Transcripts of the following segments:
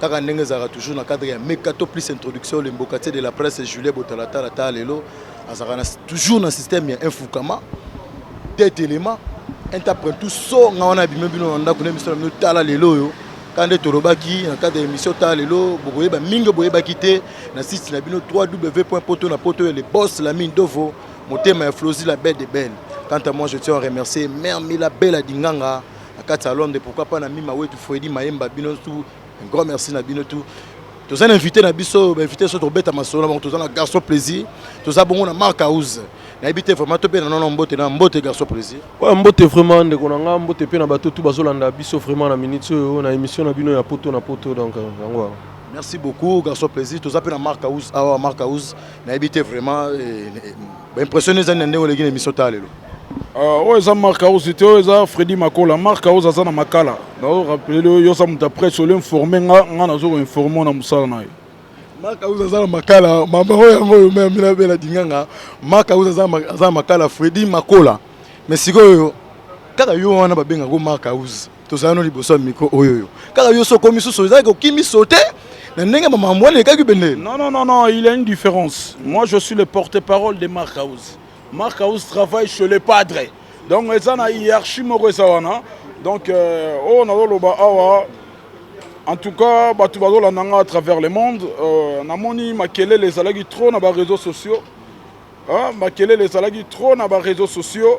Kaka ndenge ezalaka toujours na cadre ya meka to plus introduction le mbokatier de la presse Julien Botalatala ta lelo azalaka na toujours na système ya infukama tete element interprète tout so nga wana bimé bino na ndako na biso na bino tala lelo yo kaka nde tolobaki na cadre ya émission tala lelo bokoyeba mingi boyebaki te na site na bino 3 w point poto na poto ya le boss la mine dovo motema ya flosi la belle de belle quant à moi je tiens à remercier mère mila bella dinganga na kati ya Londres pourquoi pas na Mima Wetu Freddy Mayemba bino tout un grand merci na bino tout toza na invité na biso ba invité so tobeta masolo na bango toza na garçon plaisir toza bongo na Marc House nayebi te vraiment tobe na nono mbote na mbote garçon plaisir ouais mbote vraiment ndeko na nga mbote pe na bato tout bazolanda biso vraiment na minute oyo na émission na bino ya poto na poto donc euh, yango merci beaucoup garçon plaisir toza pe na Marc House awa Marc House nayebi te vraiment eh, eh, baimpressionne ezali na ndenge oleki na émission ta lelo ah, oyo eza mark house te oyo eza fredi makola mark house aza na makala naorapele oyo oza moto apresse ole informe nga nga nazo koinforme na mosala na ye mark house aza na makala mama oyo yango oyo mea mina bela dinganga mark house aza na makala fredi makola mais sikoyo kaka yo wana babengaka mark house tozala no liboso ya micro oyoyo kaka yo soko misusu ezalaki okimi sote na ndenge mamambo wana elekaki bende non non non non il y a une différence moi je suis le porte-parole de Marc House Marc House travaille chez le padre donc eza na hiérarchie moko eza wana donc euh, oyo oh, nazoloba awa en tout cas bato bazolanda nga à travers le monde euh, namoni makelele ezalaki trop na baréseaux sociaux hein? makelele ezalaki trop na baréseaux sociaux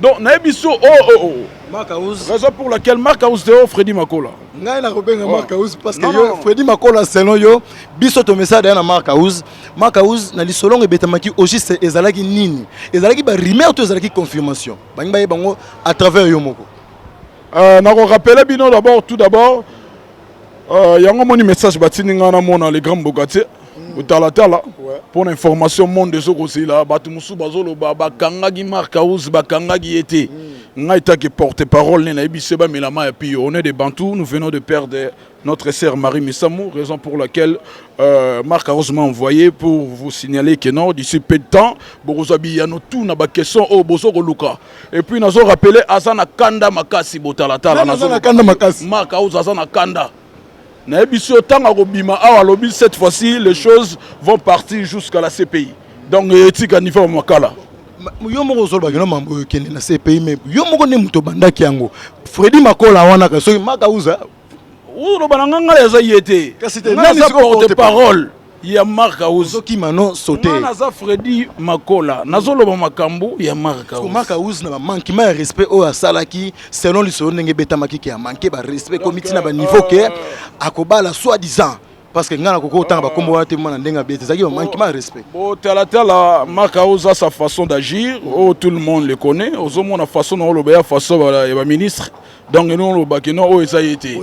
Donc na yebi so oh oh oh. oh. Marc House. Raison pour laquelle Marc House te oh, Freddy Makola. Ngai na kobenga oh. Marc House parce que non, yo non. Freddy Makola selon yo biso to message na Marc House. Marc House na lisolongo ebetamaki au juste ezalaki nini? Ezalaki ba rumeur to ezalaki confirmation. Bangi ba yebango à travers yo moko. Euh, na ko rappeler bino d'abord tout d'abord Euh, yango moni message batindi ngai namona le grand mbokatier hmm. kotalatala mpo na information monde ezokozela bato mosusu bazoloba bakangaki mark house bakangaki ye te hmm. ngai etaki porte parole ne nayebi se bamelama ya pio on est de bantou nous venons de perdre notre sœur Marie Missamou, raison pour laquelle euh, Marc Arose m'a envoyé pour vous signaler que non, d'ici peu de temps, Borozabi Yanotou n'a pas question au oh, Bozo Luka. Et puis nazo rappeler aza na kanda makasi botala tala nazo na kanda makasi Marc House aza na kanda na yebisi yo tanga ko bima awa lobi cette fois-ci les choses vont partir jusqu'à la CPI donc etika niveau makala yo moko ozolobaki no mambo oyo ekende na cpi me yo moko nde moto obandaki yango fredi makola wana soki makauza oloba na ngai ngai aza ye te nani sikoyo porte parole ya mark auzokima no sote ngai naza fredi makola nazoloba makambo ya mark aus mark aus na bamankima ya respect oyo asalaki selon lisolo ndenge ebetamaki ke amanke barespect ekomi ntina baniveau ke akobala soit disant parce que ngai nakoki kotanga bakombo wana te mwana ndenge abeti ezalaki manquement ya respect botalatala maka oza sa façon d'agir oyo oh, tout le monde le connaît ozomona façon na oloba ya façon ya baministre donc eno olobaki no oyo oh, eza ye te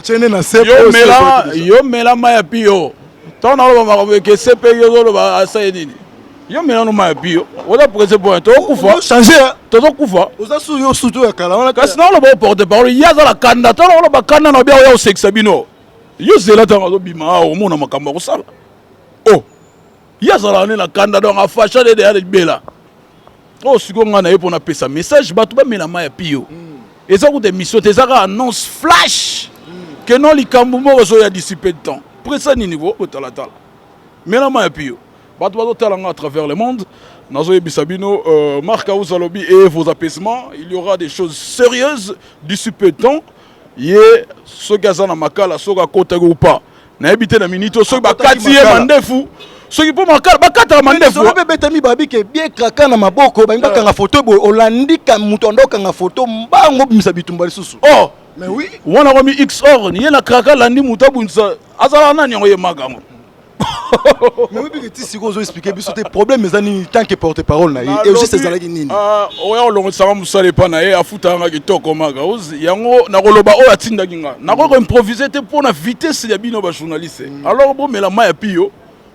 yo mela ma ya piyo ntango naloba makambo eke cp yo ozoloba asa ye nini yo mela no ma ya piyo oza prese po tozokufa tozokufa oza su yo sutu ya kala wana kasi naoloba oporte parole ye aza na kanda ntango oloba kanda na obi aoya osekisa bino Yo zela ntango azobima awa ah, omona makambo akosala o oh, ye azalaka nde na kanda donc afasha nde deya libela oyo oh, sikoyo ngai na ye mpo napesa message bato bamela mai ya piyo hmm. eza kuta émission te eza kaka annonce flash hmm. ke non likambo moko ezoya disipe de temps presa nini bo botalatala mela mai ya piyo bato bazotala ngai à travers le monde nazoyebisa bino euh, marc ausa alobi et vos apaisements il y aura des choses sérieuses disipe de temps ye soki aza na makala soki akotaki ou pas nayebi te na minute oyo soki Akotaki bakati ye makala. mandefu soki mpo makala bakataka mandefu Lisolo mpe ebetami babi ke bie kraka na maboko balingi bakanga foto boye olandi ka moto anda okanga foto mbango obimisa bitumba lisusu oh mais oui wana komi xor ye na kraka alandi moto abundisa azala nani yango ye makango mais oyebi ke ti sikoyo ozo explike biso te problème eza nini tant que porte parole na ye eogiste ezalaki nini ah, oya kolongotisanga mosala epa na ye afutaka nga kitoko maka yango nakoloba oyo atindaki nga nakoki koimprovise te mpo na vitesse ya bino bajournaliste mm. alors bomela mai ya piyo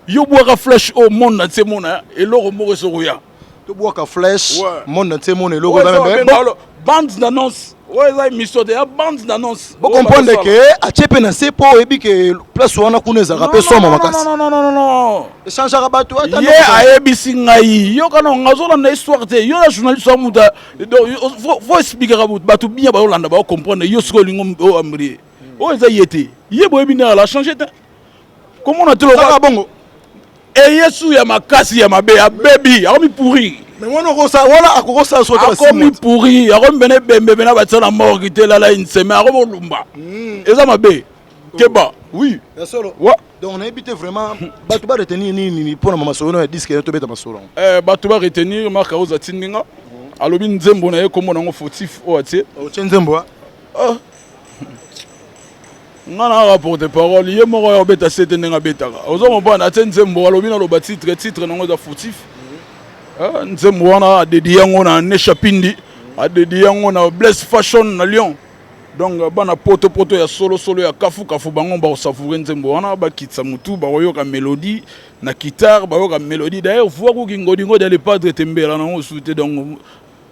yo bwaka flash oyo oh, mona na tie mona eloko moko esokoya To bwaka flash monde entier mona eloko eza meme bon bande d'annonce. Oyo eza émission te ya bande d'annonce. Bo comprendre que atie pe na se po oyebi que place wana kuna ezaka pe somo makasi. Non non non non non. Echangaka bato ata ye ayebisi ngai yo kana ngazolanda histoire te yo na journaliste wa mutu faut expliquer bato bien bayolanda bao comprendre yo soki olingo oyo amrie oyo eza ye te ye boyebi nde ala change te komona te lokola bongo eyesu ya makasi ya mabe abebi akomi pourri akomi pourri akomi pene ebembe pene abatisa na morgue te elala inseme akomi olumba hmm. eza mabe keba oui ya solo wa donc nayebi te vraiment bato ba retenir nini mpo na masolo na ya diske ya tobeta masolo yango eh, bato ba retenir mark aoz atindi nga alobi nzembo na ye nkombo na yango fautif oyo atie otie nzembo ah. nga na kaka porte parole ye moko ya obeta sete ndenge abetaka ozo comprendre atie nzembo alobi naloba titre titre nango eza fautif eh, nzembo wana adedi yango na nesha pindi adedi yango na blaise fashion na lyon donc euh, bana poto poto ya solo solo ya kafu kafu bango bakosavoure nzembo wana bakitisa motu bakoyoka melodie na guitare bayoka melodie d'ailleurs voix kuki ngodingodi ya lepadre tembela nango osu te donc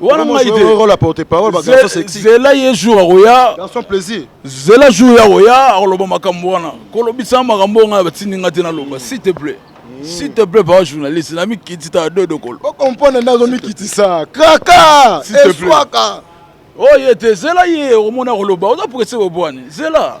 wana ngai te zela ye jour akoya zela jour ye akoya akoloba makambo wana kolobisa makambo oyo ngai batindi ngai te naloba s'il te plaît hmm. s'il te plaît papa journaliste na mikiti ta dodo kolo okomprendre nde azomikitisa kraka eswaka oye te zela ye okomona akoloba oza presse bobwani zela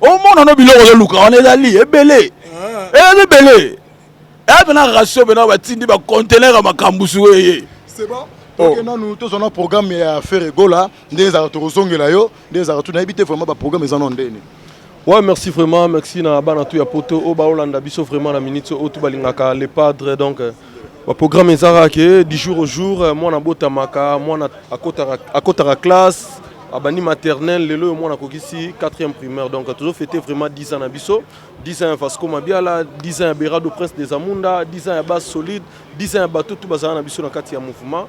omona no biloko ozoluka wana ezali ebele ah. ezali ebele eya pena ratio pena batindi bacontener ya makambo sueye oke oh. nanu tozwa na programme ya ferre gola nde ezalaka tokozongela yo nde ezalaka tu nayebi te vraiment baprogramme eza no ndeni Ouais, merci vraiment, merci na bana tout ya poto, au baolanda biso vraiment la minute, au tout balingaka le padre donc. Euh, Ba programme ezalaka ke du jour au jour euh, mwana abotamaka mwana akotaka, akotaka classe abandi maternelle lelo oyo mwana akokisi 4e primaire donc tozo fete vraiment 10 ans na biso 10 ans ya vasco mabiala 10 ans ya berado prince des amunda 10 ans ya base solide 10 ans ya bato tu bazala na biso na kati ya mouvement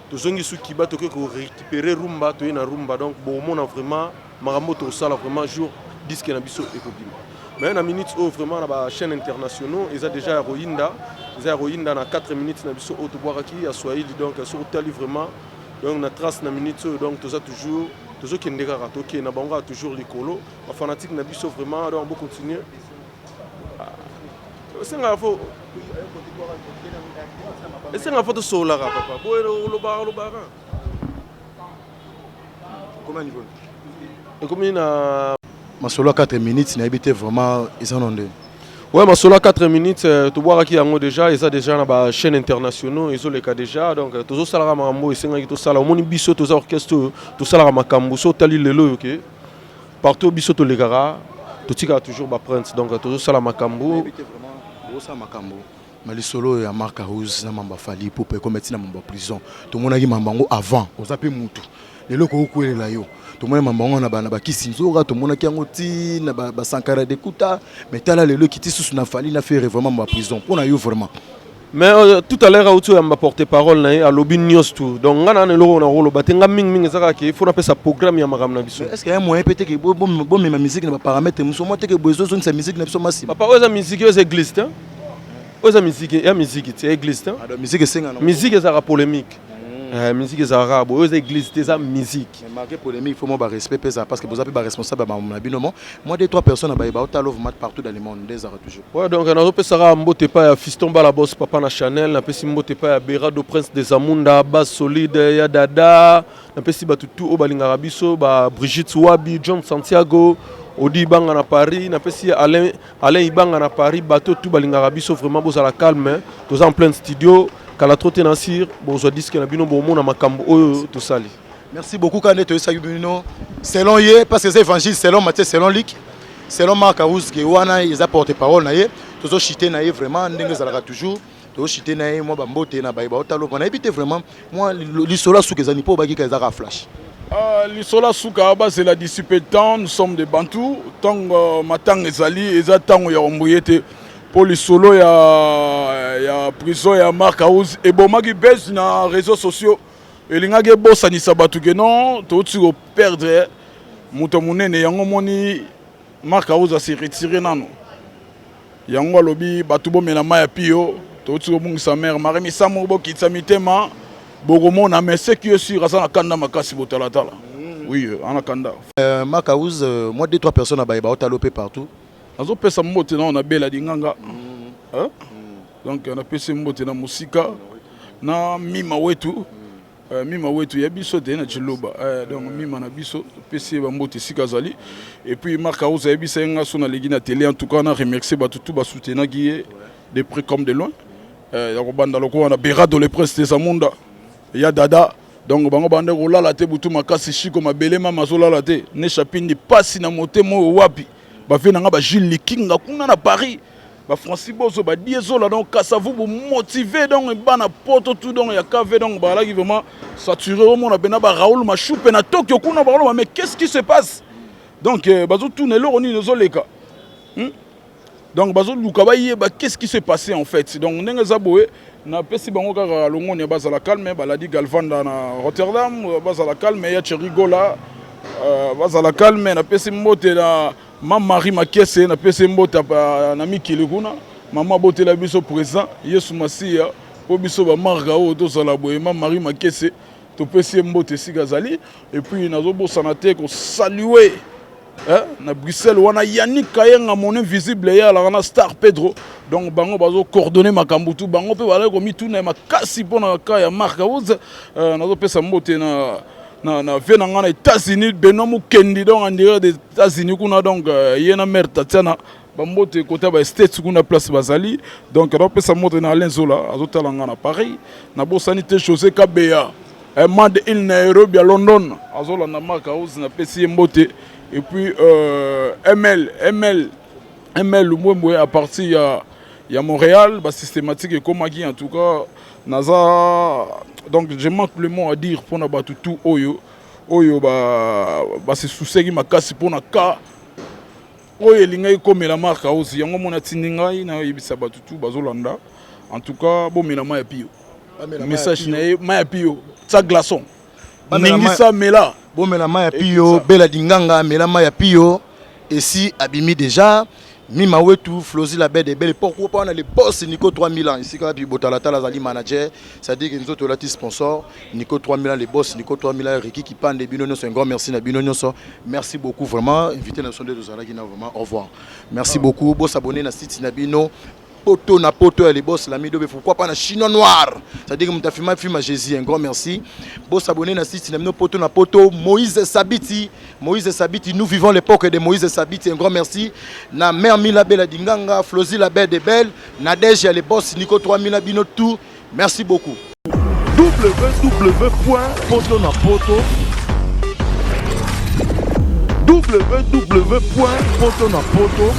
tozongi su kiba toke ko récupérer rumba toye na rumba donc bokomona vraiment makambo tosala vraiment jour disque na biso ekobima mais na minute oyo vraiment na ba chaîne internationaux eza déjà ya koyinda eza ya koyinda na 4 minutes na biso oyo tobwakaki ya swahili donc soki otali vraiment donc na trace na minute oyo donc toza toujours tozokende kaka tokende na bango kaka toujours likolo bafanatike na biso vraiment donc bocontinue esengaka fo esengaka fo tosololaka papa boye olobaka olobaka ekomi na masolo ya 4 minutes nayebi te vraiment eza no nde Ouais, Masolo 4 minutes, euh, tu vois qui yango déjà, ils ont déjà na ba chaîne internationaux, ils ont les cas déjà donc euh, tozo sala makambo esenga ki to sala omoni biso toza orchestre to sala makambo so tali lelo yoke. Partout biso to lekaka to tika toujours ba prince donc tozo sala makambu. Tozo sala makambu. Mais lisolo ya Marc House na mamba Fally Ipupa ekoma tina mamba prison. Tomonaki mamba ngo avant oza pe mutu. Lelo ko okuelela yo. Tomoni mamba ngo na bana ba kisi nzoka tomonaki yango ti na ba, ba Sankara de Kuta mais tala lelo kiti susu na Fally na Ferre vraiment mamba prison. Pona yo vraiment. Mais euh, tout à l'heure auti oyamba porte parole na ye alobi nyonso tout donc ngai nana eloko na koloba te ngai mingi mingi ezaka ke ifo napesa programme ya makambo na biso est ce que ya moyen mpe teke bomema miziki na baparametre mosusu mwa teke boye ezozongisa miziki na biso masima papa oyo eza miziki oyo eza église te oyo eza miziki ya miziki te ya église te ah, miziki esengana miziki ezalaka polémique hmm. eh, miziki ezalaka kaka boye oyo eza église te eza miziki marke polémique fo mwa barespect mpe ezala parce que boza mpe baresponsable ya bamona bino mo mwa de trois personnes na baye baotalovmat partout dans le monde nde ezalaka toujours Ouais, donc nazo pesa kaka mbote epai ya Fiston Bala Boss papa na Chanel, napesi mbote epai ya Berado Prince des Amunda, Bas Solide, ya Dada, napesi bato tout oyo balingaka biso, ba Brigitte Wabi, John Santiago, Odi Ibanga na Paris, napesi Alain, Alain Ibanga na Paris, bato tout balingaka biso vraiment bozala calme, toza en plein studio, kala trop te na sir, bozwa disque na bino bomona makambo oyo tosali. Merci beaucoup kaka nde toyesaki bino selon ye parce que eza évangile selon Matthieu selon Luc selon Marc Arouske wana eza porte parole na ye tozo chite na ye vraiment ndenge ezalaka toujours tozo chite na ye mwa bambote na baye baotalopa nayebi te vraiment mwa lisolo ya suka ezali mpo obaki ka ezaka flash Uh, lisolo ya suka bazela d'ici peu de temps nous sommes des bantous ntango euh, matanga ezali eza ntango ya ombuye te mpo lisolo ya, ya prison ya marc house ebomaki base na réseaux sociaux Elingaki ebosanisa bato ke non touti ko perdre moto ya monene yango moni Marc Auza se retire nano yango alobi bato bomela mai ya pio touti kobungisa mare mare misamu bokitisa mitema bokomona mais ce qui est sûr aza na kanda makasi botalatala mm. oui euh, ana kanda euh, Marc Auza euh, moi deux trois personnes abaye baotala ope partout azopesa mbote nao na bela dinganga mm. hein? Donc na pesi mbote na musika na mima wetu Uh, mima wetu ya biso te na chiluba uh, donc mima na biso pesi ba mbote sika azali et puis Marc Arousa yebisa nga so na legi na télé en tout cas na remercier ba tout ba soutenir qui est de près comme de loin euh ya ko banda lokola na Berado le prince des Amunda ya dada donc bango bande kolala te butu makasi shiko mabele mama azolala te ne chapindi pasi na motema oyo wapi bavie na nga ba Jules Likinga kuna na Paris Ba Francis Bozo ba die zola donc Kasavubu motivé donc bana poto tout donc ya KV donc ba laki vraiment saturé au monde bena ba Raoul Machoupe na Tokyo kuna ba mais qu'est-ce qui se passe donc euh, bazo tuna eloko nini ezo leka hmm? donc bazo luka ba yeba qu'est-ce qui se passait en fait donc ndenge za boye na pesi bango kaka longonia bazala calme baladi Galvanda na Rotterdam bazala calme ya Cherigola euh, bazala calme na pesi mbote na Mame Marie Makiese na pese mbota na mikili kuna mama abotela biso president Yesu Masiya mpo biso bamarga oyo tozala boye mame Marie Makiese topesi ye mbote esika azali epuis nazobosana te kosalue eh, na bruxelles wana yannick kayenga mon invisible ye alaka na star pedro donc bango bazocoordonne makambo tu bango mpe bazali komituna ya makasi mpo na ka ya mark house eh, nazopesa mbote na na, na vie na ngai na États-Unis Benoît Mukendi donc en dehors des États-Unis kuna donc euh, ye na mère Tatiana bambote kota ba states kuna place bazali donc napesa moto na Alain Zola azotala ngai na Paris nabosani te José Kabeya eh, Mad il Nairobi ya London azolanda Mark House napesi ye mbote et puis euh, ML ML ML Lumbwembwe à partir ya ya Montréal ba systématique ekomaki en tout cas Naza donc je manque le mot à dire pona batu tout oyo oyo ba ba se souciaki makasi pona ka oyo elingaki komela Marc Aozi yango mona tindi ngai na yebisa batu tout bazolanda en tout cas bomela mai ya pio message na ye mai ya pio sa glaçon ningisa mela bomela mai ya piyo bela dinganga mela mai ya piyo esi abimi deja mima wetu flozi la bede bele pourquoi pas na le boss nico 3000 ans esika wapi botalatala azali manager c'est-à-dire que nzoto olati sponsor nico 3000 ans le boss nico 3000 ans riki kipande bino nyonso un grand merci na bino nyonso merci beaucoup vraiment invité na biso nde tozalaki na vraiment au revoir merci beaucoup bosabone na site na bino poto na poto ya libos la midobe pourquoi pas na chinois noir ça dit que muta filma filma Jésus un grand merci bo s'abonner na site na mino poto na poto Moïse Sabiti Moïse Sabiti nous vivons l'époque de Moïse Sabiti un grand merci na mère Mila Bella Dinganga Flozi la belle de belle Nadège ya les boss Nico 3000 bino tout Merci beaucoup. www.potonapoto